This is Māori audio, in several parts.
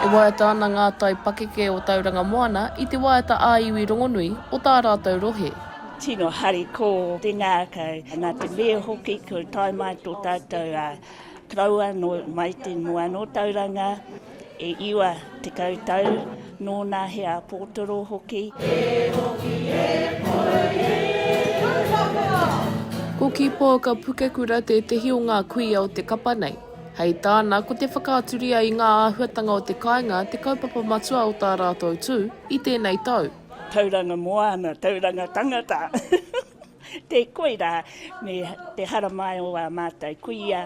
E waiata ana ngā tai pakeke o Tauranga Moana i te waiata ā-iwi rongonui o tā rātou rohe. Tino harikoa te ngākau, nā te mea hoki kua tae mai tō tātou koroua mai te moana o Tauranga. E iwa tekau tau, nōna he āpōtoro hoki. E hoki e pou e Ruapera! Ko Kīpōuka Pukekura tētehi o ngā kuia o te kapa nei. Hei tāna, ko te whakaaturia i ngā āhuatanga o te kāinga te kaupapa matua o tā rātou tū i tēnei tau. Tauranga moana, tauranga tangata! Tē koirā me te haramai o ā mātou kuia,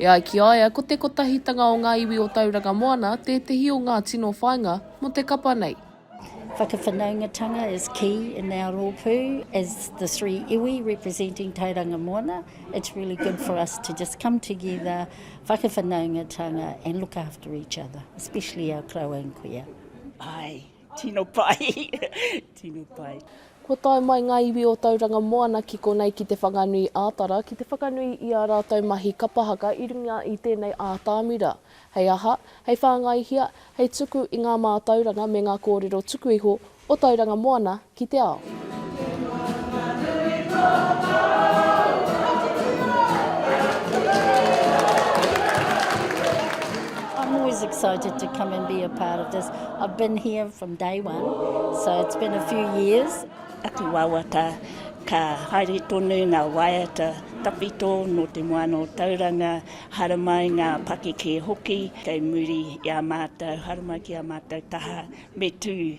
E ai ki a ia, ko te kotahitanga o ngā iwi o Tauranga Moana tētehi o ngā tino whāinga mō te kapa nei. Whakawhanaungatanga is key in our rōpū as the three iwi representing Tauranga Moana, it's really good for us to just come together, whakawhanaungatanga and look after each other, especially our koroua and kuia. Aye. Tino pai, tino pai. Kua tae mai ngā iwi o Tauranga Moana ki konei ki Te Whanganui ā Tara ki te whakanui i ā rātou mahi kapa haka i runga i tēnei ātamira. Hei aha? Hei whāngaihia, hei tuku i ngā mātauranga me ngā kōrero tuku iho o Tauranga Moana ki te ao. I'm always excited to come and be a part of this. I've been here from day one, so it's been a few years. Aku wawata, ka haere tonu ngā waiata tawhito nō Te Moana o Tauranga, haramai ngā pakeke hoki kei muri i a mātou, haramai ki a mātou taha me tū.